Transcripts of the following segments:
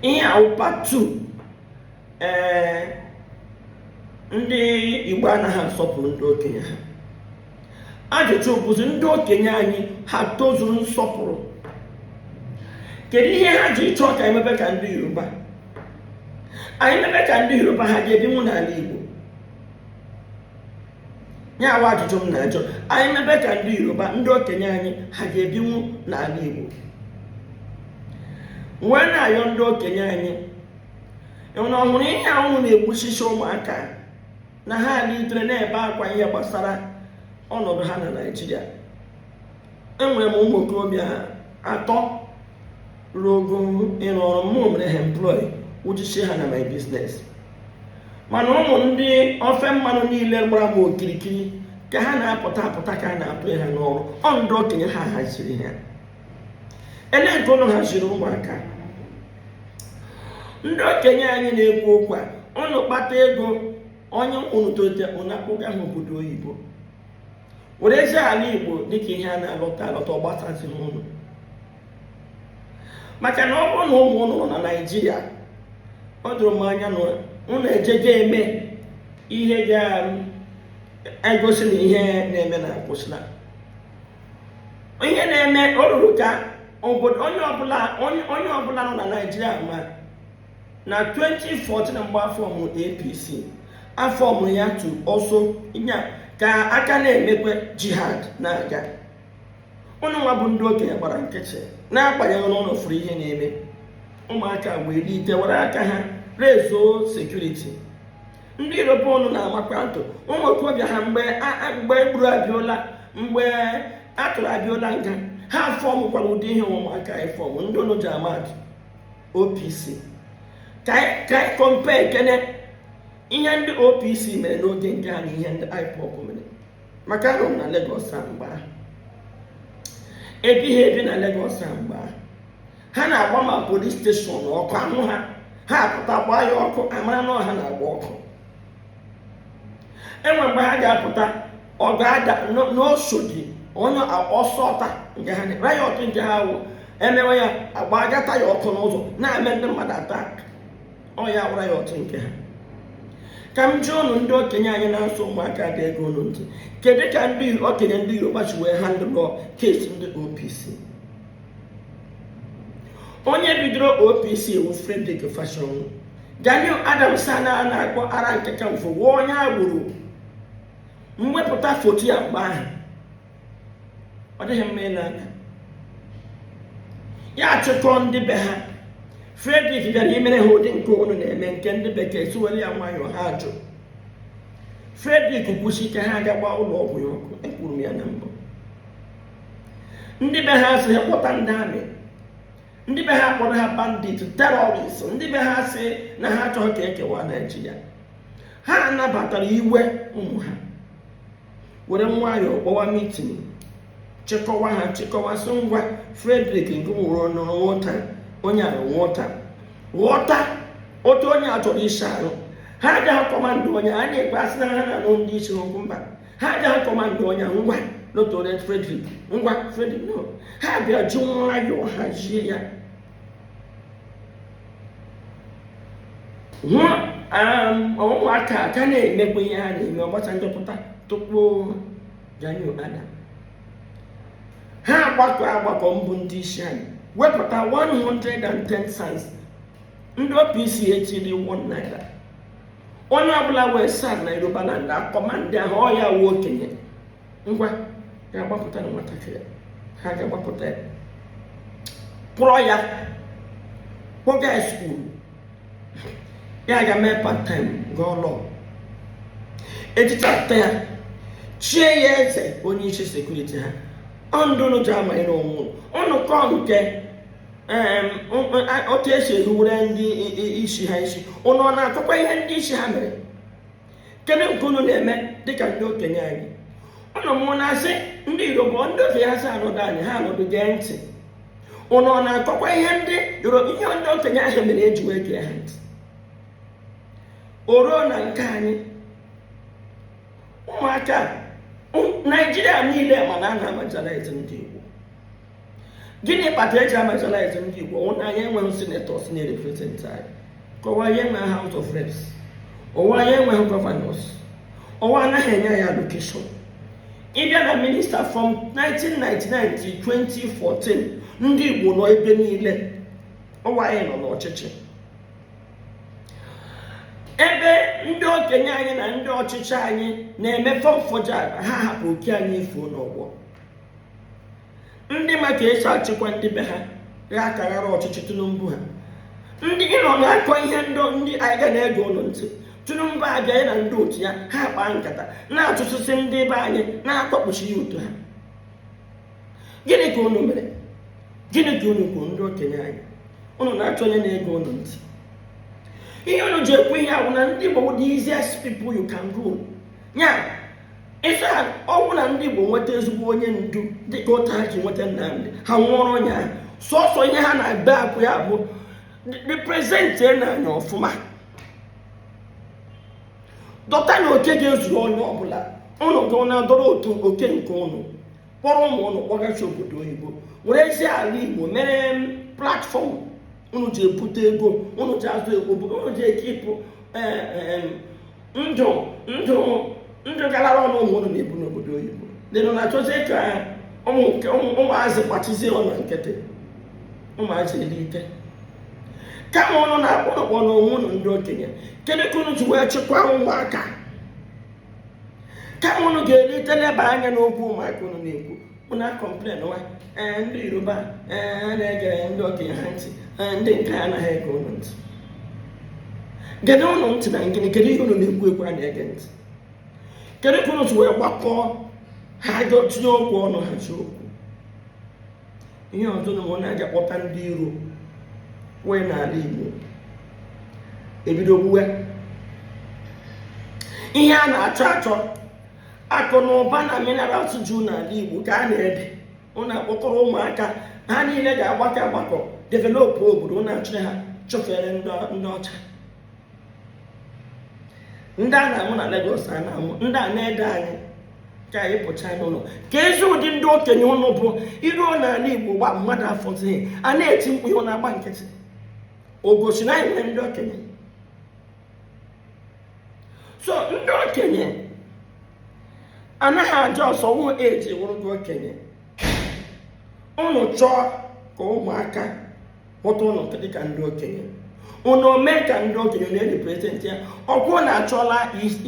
ihe a wụ part 2 ee ndị igbo anaghị asọpụrụ ndị okenye ha ajụjụ bụzi ndị okenye anyị ha tozuru nsọpụrụ kedu ihe ha ji ịchọ ka anyị mebe ka ndị yoruba anyị mebe ka ndị yoruba ha ga-ebinwu n'ala igbo nya wụ ajụjụ m na-ajụ anyị mebe ka ndị yoruba ndị okenye anyị ha ga-ebinwu n'ala igbo wee na-ayọ ndị okenye anyị na ọhụrụ ihe ahụ na-egbuchicha ụmụaka na ha litere na-ebe akwa ihe gbasara ọnọdụ ha na naijiria enwere m ụmụ okorobịa atọ ruo ogo ịrụ ọrụ mụ mere ha employ wụchichie ha na my business mana ụmụ ndị ofe mmanụ niile gbara m okirikiri ka ha na-apụta apụta ka a na-atụ ha n'ọrụ ọ ndị okenye ha haziri ha ele nke ụnụ haziri ụmụaka ndị okenye anyị na-ekwu okwu a ụnụ kpata ego onye ụnụ tolite ụnụ akpụga ha obodo oyibo werezie ala igbo dịka ihe a na-alọta alọta ọ gbasazị ụnụ maka na ọ bụrụ na ụmụ ụnụ nọ na naijiria o doro m anya na ụnụ ejego eme ihe ga-egosi na ihe na-eme na akwụsịla ihe na-eme o ruru ka obodo onye ọbụla nọ na naijiria ma na 2014 mgbe a fọọmụ apc a fọọmụ ya tu ọsọ nya ka a ka na-emekwe jihad na-aga ụnụ nwa bụ ndị okenye gbara nkịtị na-agbanyeghị na ụnụ furu ihe na-eme ụmụaka wee lite were aka ha rezuo sekuriti ndị yoruba ụnụ na-amakwa atụ ụmụ okorobịa ha mgbe e gburu abịola mgbe a tụrụ abịola nga ha fọmụkwara ụdị ihe ụmụaka anyị fọmụ ndị ụnụ ji ama atụ OPC ka anyị compare kene ihe ndị OPC mere n'oge nke ha na ihe ndị IPOB mere maka anọ m na Lagos a mgbe ahụ ebighị ebi na Lagos a mgbe ahụ ha na-agba ma polis steshọn ọkụ a nwụọ ha ha apụta gbaa ya ọkụ a mara na ọ ha na-agba ọkụ e nwee mgbe ha ga-apụta ọ ga-ada n'oshodi onye ọsọ ọta nke ha rayọt nke ha wụ e mewe ya a gbagata ya ọkụ n'ụzọ na-eme ndị mmadụ atak ọ ya wụ rayọt nke ha ka m jụọ ụnụ ndị okenye anyị na-asị ụmụaka adị ege ụnụ ntị kedu ka ndị okenye ndị yoruba si wee handụlọ kesi ndị opc onye bidoro opc wu frederick fasehun gani adams a na-akpọ aare ona kakanfo wụ onye agboro m wepụta foto ya mgbe ahụ ọ dịghị mma n'anya ya achịkọọ ndị be ha Frederick bịara imere ha ụdị nke ụnụ na-eme nke ndị bekee siwere ya nwayọọ ha jụ Frederick kwusi ike ha aga gbaa ụlọ ọgwụ ya ọkụ ekwuru m ya na mbụ ndị be ha sị ha kpọta ndị army ndị be ha kpọrọ ha bandit terrorist ndị be ha sị na ha achọghị ka ekewa Naịjirịa ha anabatara iwe ụmụ ha were nwayọọ kpọwa meeting chịkọwa ha chịkọwa sị ngwa frederick nke nwụrụ n'ọ wụ nwata onye a wụ nwata ghọta otu onye a chọrọ isi arụ ha agaghị kọmandụ onye a na-ekpe asị na ha na-anụ ndị isi n'okwu mba ha agaghị kọmandụ onye ngwa n'otu onye frederick ngwa frederick no ha bịa ji nwayọọ hazie ya hụ ụmụaka um, ka na-emekwa ihe ha na-eme ọgbacha njọpụta tupu Gani Adams ha agbakọ agbakọ mbụ ndị isi anyị wepụta 110 cents ndị OPC etiri 1 naira onye ọbụla wee sa na Yorubaland akọma ndị ahụ ọ ya wụ okenye ngwa ga-agbapụta na nwatakịrị ha ga-agbapụta ya kpụrọ ya kpọga ya school ya ga mee part time gụọ law ejichapụta ya chie ya eze onye isi security ha ọndụ unu ji ama ịrụ onwe unu unu kọọ nke otu esi eruwere ndị isi ha isi ụnụ ọ na-akọkwa ihe ndị isi ha mere kedu nke unu na-eme dịka ndị okenye anyị ụnụ mụ na-asị ndị yoruba ndị ofe ha sị anọdụ anyị ha anọdụ gee ntị ụnụ ọ na-akọkwa ihe ndị yoruba ihe ndị okenye ahụ mere eji wee gee ha ntị o ruo na nke anyị ụmụaka naijiria niile ma na a na-amarginalize ndị igbo gịnị kpata eji amarginalize ndị Igbo ọ wụ na anyị enweghị senators na-erepresent anyị ka ọ wụ anyị enweghị House of Reps ọ wụ anyị enweghị governors ọ wụ anaghị enye anyị allocation ịbịa na minister from 1999 to 2014 ndị Igbo nọ ebe niile ọ wụ anyị nọ n'ọchịchị ebe ndị okenye anyị na ndị ọchịchị anyị na-eme fọmfọja ha hapụ oke anyị efuo n'ọgbọ ndị ma ka esi achịkwa ndị be ha ga-akaghara ọchịchị tinubu ha ndị ịnọ na-akọ ihe ndị ndị anyị ga na-ege unu ntị tinubu abịa ya na ndị otu ya ha kpaa nkata na-atụtụsị ndị be anyị na-akpọkpụchi ya otu ha gịnị ka unu mere gịnị ka unu kwuru ndị okenye anyị unu na-achọ onye na-ege unu ntị ihe unu ji ekwu ihe a wụ na ndị Igbo wụ the easiest people you can rule ya ịsa ọ wụ na ndị Igbo nweta ezigbo onye ndu dịka otu ha ji nweta Nnamdị ha nwụọrọ onye ahụ sọsọ ihe ha na-ebe akwa ya bụ represent nụ anyị ọfụma dọta nụ oke ga-ezuru onye ọbụla ụnụ ga na-adọrọ otu oke nke ụnụ kpọrọ ụmụ ụnụ kpọgachi obodo oyibo werezie ala Igbo mere platfọm unu ji ebute ego unu ji azụ ego unu ji ekipụ e, e, e, ndụ ndụ ndụ galara ọnụ ụmụ unu na-ebi n'obodo oyibo unu na-achọzi ka ụmụazị gbachizie ọnụ nkịtị ụmụazị elite kama unu na-akpọ ọkpọ na onwe unu ndị okenye kedu ka unu ji wee chịkwaa ụmụaka kama unu ga-elite leba anya n'okwu ụmụaka unu na-ekwu ụnụ na-akọmplen na ee ndị yoruba ee a na-ege ndị okenye ha ntị ee ndị nke a anaghị ege ụnụ ntị gede ụnụ ntị na ngịnị kedu ihe ụnụ na-ekwu ekwu a na-ege ntị kedu ka ụnụ si wee gbakọọ aka tinye okwu ọnụ ha ji okwu ihe ọzọ na ụnụ aga kpọta ndị iro wee n'ala igbo ebido gbuwe ihe a na-achọ achọ akụ na ụba na minerals ju n'ala igbo ka a na-ede ụnụ akpọkọrọ ụmụaka a niile ga-agbakọ agbakọ developụ obodo ụnụ achịrị ha chụfere ndị ọcha ndị a na-amụ na Lagos a na-amụ ndị a na-ede anyị ka anyị pụcha n'ụlọ keezi ụdị ndị okenye ụnụ bụ i ruo n'ala Igbo ugbu a mmadụ afọzighị a na-eti mkpu ụnụ na-agba nkịtị o gosi na anyị nwere ndị okenye so ndị okenye anaghị acha isi awọ eji wụrụ ndị okenye ụnụ chọọ ka ụmụaka hụta ụnụ dịka ndị okenye ụnụ mee ka ndị okenye na-erepresentị ya ok ụnụ achụla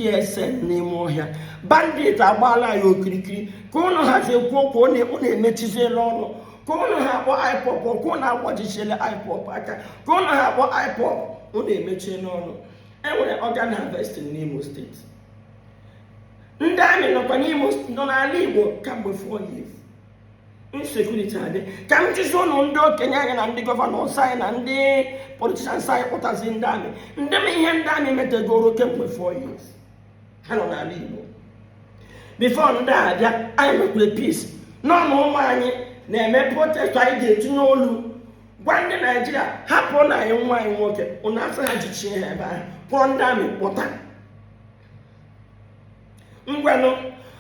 ESN n'ime ọhịa bandit agbaala ya okirikiri ka ụnụ hazi ekwu okwu ụnụ emechiziela ọnụ ka ụnụ ha akpọ IPOB ok ụnụ agbajichiela IPOB aka ka ụnụ ha akpọ IPOB ụnụ emechiela ọnụ enwere organ harvesting n'Imo steeti ndị amị nọkwa n'Imo nọ n'ala Igbo kamgbe four years insecurity adị ka m jụzi ụnụ ndị okenye anyị na ndị gọvanọs anyị na ndị politicians anyị kpọtazi ndị amị ndee ihe ndị amị metegoro kemgbe four years ha nọ n'ala Igbo bifo ndị a bịa anyị nwekwere peace nọ na ụmụ nwaanyị na-eme protest anyị ga-etinye olu gwa ndị naijiria hapụrụ nụ anyị nwa anyị nwoke ụnụ asị ha jichie ha ebe ahụ kpọọ ndị amị kpọta ngwanụ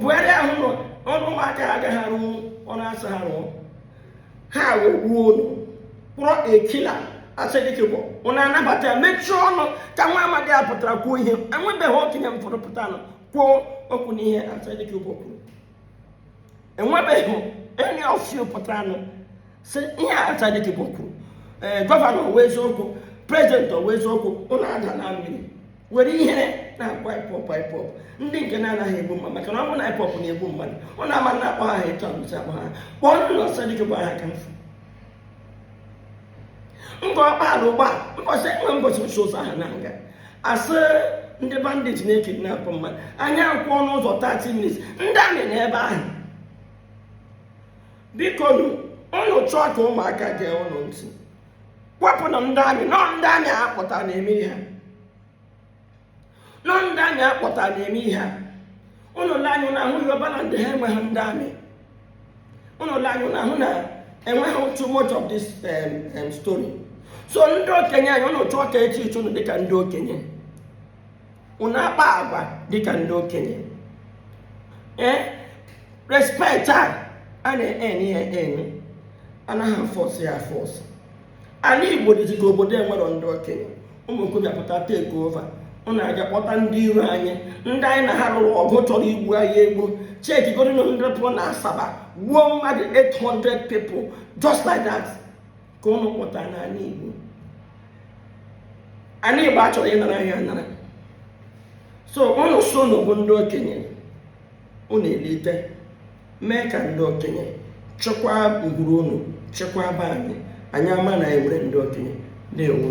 buhari ahụ nọ ụmụaka agaghị arụ ọ na-asị ha rụọ ha wee gbuo ụnụ kpọrọ a killer asari dokubo ụnụ anabata ya mechie ọnụ ka nwa amadi a pụtara kwuo ihe enwebeghị okenye m fụrụ pụtara nọ kwuo okwu n'ihe asari dokubo kwuru enwebeghị any of you pụtara nọ sị ihe asari dokubo kwuru ee gọvanọ ọ wụ eziokwu prezidenti ọ wụ eziokwu ụnụ ada na mmiri were ihe na-akpọ ipob ipob ndị nke na-anaghị egbu mmadụ maka na ọ bụ na ipob na-egbu mmadụ ụnụ ama na-akpọ ha etu agụzi akpọ ha kpọọnụ asari dokubo aha ka m fụ ngor okpala ugbu a mbọchị enwe mbọchị ụzọ ahụ na-aga asị ndị bandit na-ekidnapụ mmadụ anyị akwụọ n'ụzọ 30 minutes ndị amị nọ ebe ahụ biko nụ ụnụ chọọ ka ụmụaka gee ụnụ ntị kwapụnụ ndị amị nọ ndị amị akpọta na-eme ihe nọ ndị amị akpọta na-eme ihe ụnụ lee anya ụnụ ahụ yoruba land ha enweghị ndị amị ụnụ lee anya ụnụ ahụ na enweghị too much of this um, um, story so ndị okenye anyị ụnụ chọọ ka e treatie ụnụ dịka ndị okenye unu akpa agwa dịka ndị okenye ee respect a a na-earn ya earn anaghị afọsụ ya afọsụ ala igbo dịzi ka obodo enwerọ ndị okenye ụmụ okorobịa pụta take over unu aga kpọta ndị iro anyị ndị anyị na ha lụrụ ọgụ chọrọ igbu anyị egbu chekie godinụ ndị pụrụ na asaba gbuo mmadụ 800 people just like that ka ụnụ kpọta n'ala Igbo ala Igbo achọrọ ịnara anyị anara so ụnụ so ụnụ bụ ndị okenye ụnụ elite mee ka ndị okenye chekwaa ngwuru ụnụ chekwaa be anyị anyị ama na enwere ndị okenye na-enwe